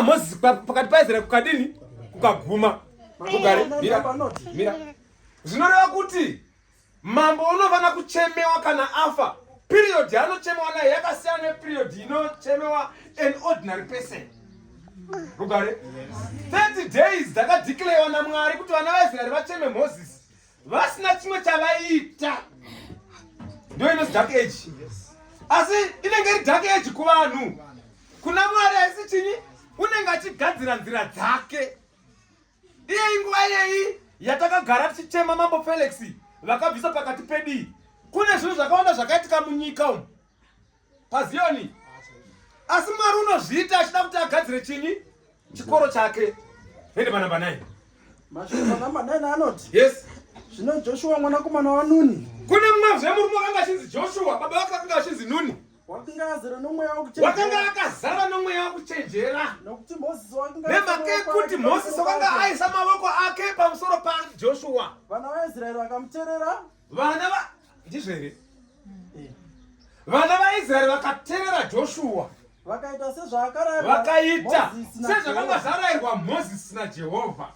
Moses pakati paizera kukadini kukaguma kugare mira mira zvinoreva kuti mambo unofanira kuchemewa kana afa period yaanochemewa nayo yakasiyana neperiod inochemewa an ordinary person rugare 30 days dzakadeclarewa namwari kuti vana vaisraeri vacheme moses vasina chimwe chavaiita ndo inozi dark age asi inenge iri dark age kuvanhu kuna mwari haisi chinyi unenge achigadzira nzira dzake iyeyi nguva iyeyi yatakagara tichichema mambo felix vakabvisa pakati pedii kune zvinhu zvakawanda zvakaitika munyika umu paziyoni asi mwari unozviita achida kuti agadzire chini chikoro chake hende manamba 9 manamba 9 anoti yes zvino joshua mwanakomana wanuni kune mumwe zve murume wakanga achinzi joshua baba vake vakanga vachinzi nuni wakanga akazara nomweya wokuchenjera nemhaka yekuti mosisi wakanga aisa mavoko ake pamusoro pajoshua vana va ndizvo here eh. vana vaisraeri vakaterera joshuwa vakaita sezvaakaita sezvakanga zvarayirwa mozisi najehovha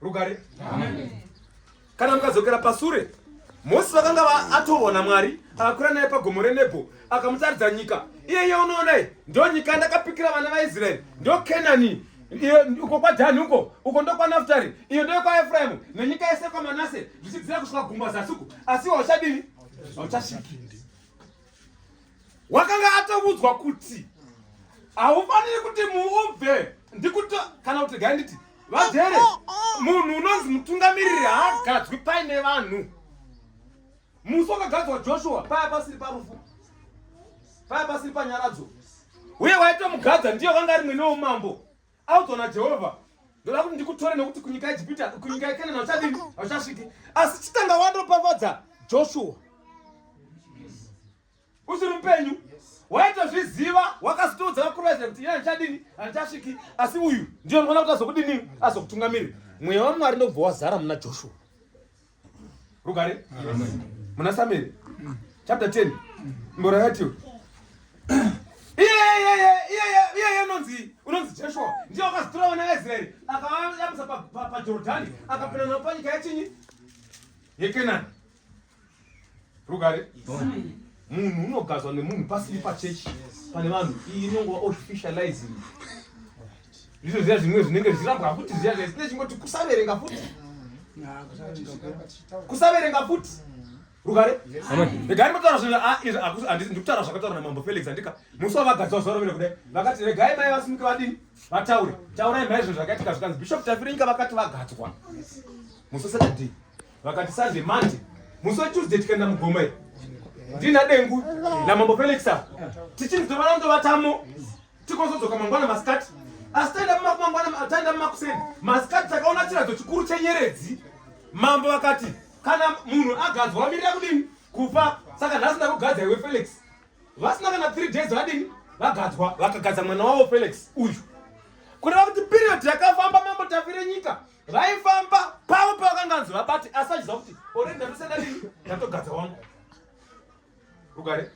rugare kana mukadzokera pasure mozisi vakanga atoona mwari akakwira naye pagomo renebho akamutaridza nyika iyeye unoonai ndo nyika ndakapikira vana vaisraeri ndo kenani Iyo uko kwaDhani uko uko ndokwaNaftari, iyo ndeyokwaEfraimu nenyika yese kwaManase, zvichidzira kusvika gungwa zasi uko. Asi iwe hauchadini? Hauchasviki. Wakanga atovudzwa kuti haufaniri kuti muubve ndikuti kana kuti gai nditi vagere munhu unonzi mutungamiriri haagadzwi paine vanhu Musi wakagadzwa Joshua paya pasiri parufu, paya pasiri panyaradzo, uye waitomugadza ndiye wanga ari mwene womambo audzwa naJehovha ndoda kuti ndikutore nekuti kunyika yejipita kunyika yekenana uchadini hauchasviki asi chitanga wandopapadza joshua usiri mupenyu waitozviziva wakasitoudza vakuru vaizira kuti ina handichadini handichasviki asi uyu ndiyo ndinoona kuti azokudini azokutungamiri mweya wamwari ndokubva wazara muna joshua rugare muna samueri chapter 10 mboro yatiyo iyeye iyeye unonzi unonzi joshua ndiye wakazitora vana vaisraeri akavayamisa pajordhani akapinda navo panyika yachinyi yekenani rugare munhu unogadzwa nemunhu pasiri pachechi pane vanhu iyi inongova officializing ndizvo ziya zvimwe zvinenge zvichirambwa futi ziya zvaisine chingoti kusaverenga futi kusaverenga futi rugare regai mataura zvinhu ah, ndikutaura zvakataura namambo felix andika musi wavagadzwa zuva rovene kudai vakati regai mai vasimuke vadini vataure taurai mai zvinhu zvakaitika zvikanzi bishop tafiringa vakati vagadzwa musi wesaturday vakati sunday monday musi wetuesday tikaenda mugoma iri ndina dengu namambo felix ava tichinzi tovana ndovatamo tikozodzoka mangwana masikati asi taenda mumangwana taenda mumakuseni masikati takaona chiradzo chikuru chenyeredzi mambo vakati kana munhu agadzwa wamirira kudini kufa saka nhasi ndakugadza iwe felix vasina kana three days vadini vagadzwa vakagadza mwana wavo felix uyu kureva kuti period yakafamba mambo tafire nyika vaifamba pavo pavakanganzi vabati asi vachiziva kuti ore ndatosa dadii ndatogadza wangu rugare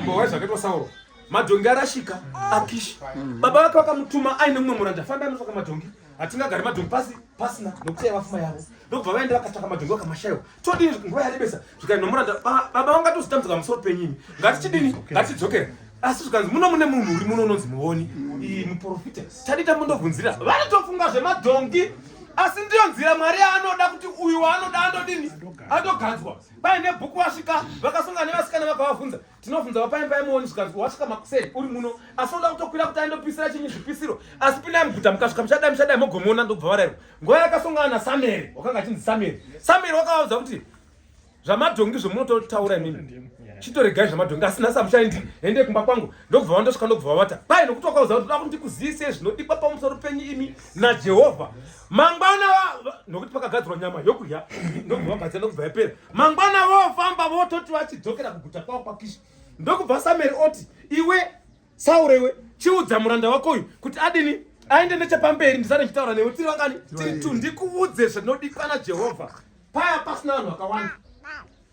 mbowa zvakaitwa sauro madhongi arashika akishi baba vake vakamutuma aine mumwe muranda famba anotsvaka madhongi hatingagari madhongi pasi pasina nokuti yavafuma yavo ndokubva vaenda vakatsvaka madhongi vakamashaiwa todii nguva yarebesa zvikanzi nomuranda baba vangatozitambdzika musoro penyini ngatichidini ngatichidzokera asi zvikanzi muno mune munhu uri muno unonzi muvoni iyi muprofita tadii tambundobvunzira vanotofunga zvemadhongi asi ndiyo nzira mwari yaanoda kuti uyu waanoda andodini andoganzwa paine bhuku vasvika vakasunga nevasikana vakavavhunza tinobvunzawo paimba pai muoni zvikanzi wasvika makuseni uri muno asi unoda kutokwira kuti aindopisira chinyi zvipisiro asi pindai muguta mukasvika muchadai muchadai mogomona ndobva varairwa nguva yakasongana nasamueri wakanga achinzi samueri samueri wakavaudza kuti zvamadhongi zvomunototaura imimi chitoregai zvamadhongi asi nhasi amuchaendi hende kumba kwangu ndokubva vandosvika ndokubva vavata kwai nokuti wakauza kuti toda kuti ndikuziyisei zvinodikwa pamusoro penyu imi najehovha mangwana nokuti pakagadzirwa nyama yokudya ndokubva vagadzira ndokubva yapera mangwana vofamba vototi vachidzokera kuguta kwavo kwakishi ndokubva sameri oti iwe sauro iwe chiudza muranda wako uyu kuti adini aende nechepamberi ndisane ndichitaura newe tiri vangani tiri tu ndikuudze zvinodikana jehovha paya pasina vanhu vakawanda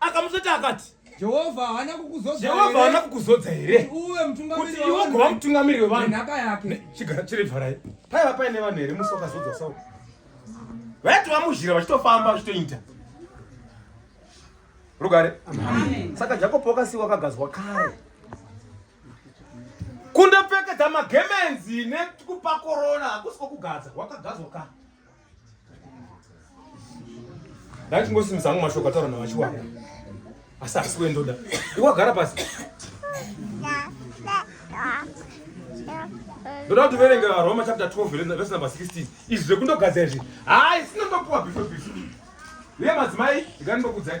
akamuzoti akati jehovha haana kukuzodza here kuti iwe ugova mutungamiriri wevanhaka yake chigara chiri vharai paiva paine vanhu here musi wakazodzwa sau vaiti vamuzhira vachitofamba vachitoita rugare saka jakobo wakasiwa akagazwa kare kundopfekedza magemenzi nekupa korona hakusi kwokugadzwa wakagadzwa kare ndaitingosimisa hangu mashoko ataura navachiwaka asi asi wendoda iwagara pasi ndoda kuti verenge varoma chapter 12 vese number 16 izvi zvekundogadzira izvi hayi sinotopuwa bife bife uye madzimai ndikandokudzai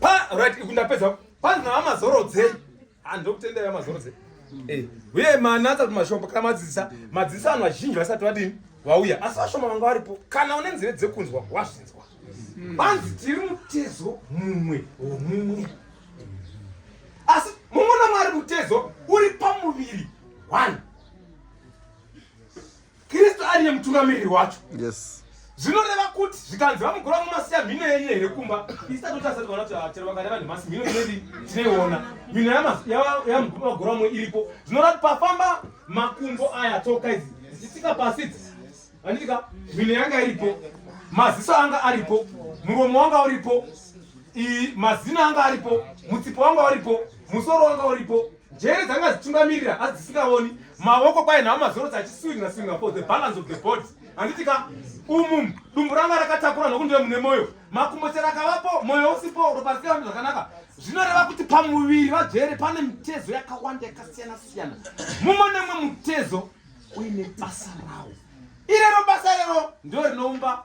Pa right ikundapedza panzi na mazorodzei. Ah ndokutendera mazorodzei. Eh, uye manatsa kumashoko kana madzisa, madzisa anhu azhinji vasati vadini? Vauya. Asi vashoma vanga varipo. Kana une nzeve dzekunzwa wazvinzwa. Panzi hmm. tiri mutezo mumwe womumwe. Asi mumwe na Mwari mutezo uri pamuviri. One. kristu ariye mutungamiriri wacho yes zvinoreva kuti zvikanzi vamugura vamasiya mhino yenyu here kumba isati kuti asati vana kuti ah, chero vakareva nhemasi mhino inei tinoiona mhino yamugura vamwe iripo zvinoreva kuti pafamba makumbo aya tsoka idzi dzichitika pasi idzi anditika mhino yanga iripo maziso anga aripo muromo wanga uripo mazina anga aripo mutsipo wanga uripo musoro wanga uripo Njere dzanga dzichitungamirira asi dzisingaoni maoko kwaye nawo mazorotsi achiswinga swinga for the balance of the body handiti ka umum dumbu ranga rakatakura nokundiwe mune moyo makumbo chero akavapo moyo usipo ropa risikaambi zvakanaka zvinoreva kuti pamuviri vajere pane mitezo yakawanda yakasiyana siyana mumwe nemwe mutezo uine basa rawo irero basa rero ndo rinoumba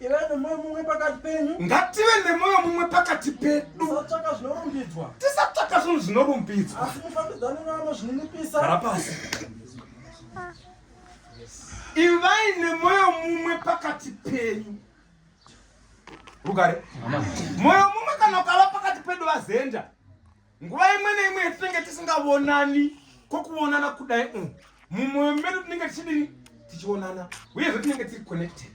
ive nemoyo mumwe pakati penyu ngative nemoyo mumwe pakati pedu tisatsvaka zvinorumbidzwa tisatsvaka zvinhu zvinorumbidzwa asi mufambidzane nevanozvininipisa gara pasi ivai nemoyo mumwe pakati penyu rugare moyo mumwe kana ukava pakati pedu vazenda nguva imwe neimwe yatinenge tisingavonani kwokuvonana kudai um mumwoyo medu tinenge tichidini tichionana uyezve tinenge tiri connected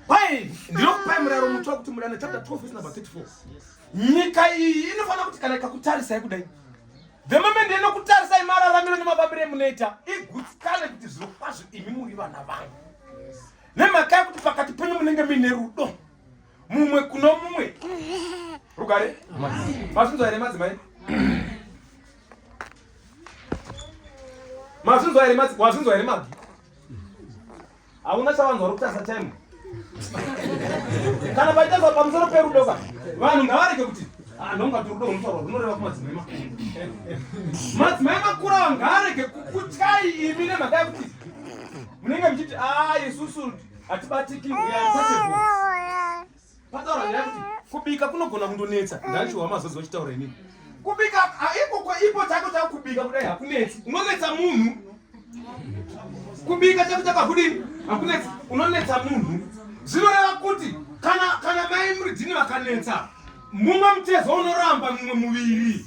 pai ndinokupai muraro mutsva kuti murana chapter 12 vese number 34 nyika iyi inofanira kuti kana ikakutarisai kudai the moment inokutarisai mararamiro nemafambiro emunoita igutsikane kuti zviro kwazvo imi muri vana vangu nemhaka yekuti pakati penyu munenge muine rudo mumwe kuno mumwe rugare masunzo aine madzimai masunzo aine madzi wasunzo aine mabvi hauna chavanhu vari kutasa time kana paitasa pamusoro perudo ka vanhu ngavarege kuti anongati ah, rudo runotaurwa runoreva kumadzimai makuru madzimai makuru ava ngaarege kukutyai imi nemhaka yekuti munenge muchiti a ah, isusu hatibatiki pataura nyaya kuti kubika kunogona kundonetsa ndachiwa mazozi wachitaura inini kubika ikoko ipo chako chakubika kudai hakunetsi unonetsa munhu kubika chako chakakudini hakunetsi unonetsa munhu zvinoreva kuti kana kana mai muridhini vakanetsa mumwe mutezo unoramba mumwe muviri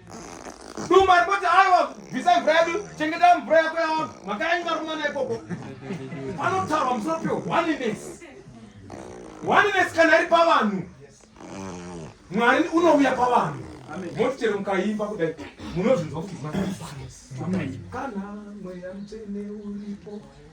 Duma ripoti aiwa bvisai mvura yedu chengetai mvura yako yawa mhaka yanyu varumana ikoko. Panotaurwa musoro pio oneness. Oneness kana iri pavanhu. Mwari unouya pavanhu. Moti chero mukaimba kudai munozvinzwa kuti kana mweya mutsvene uripo.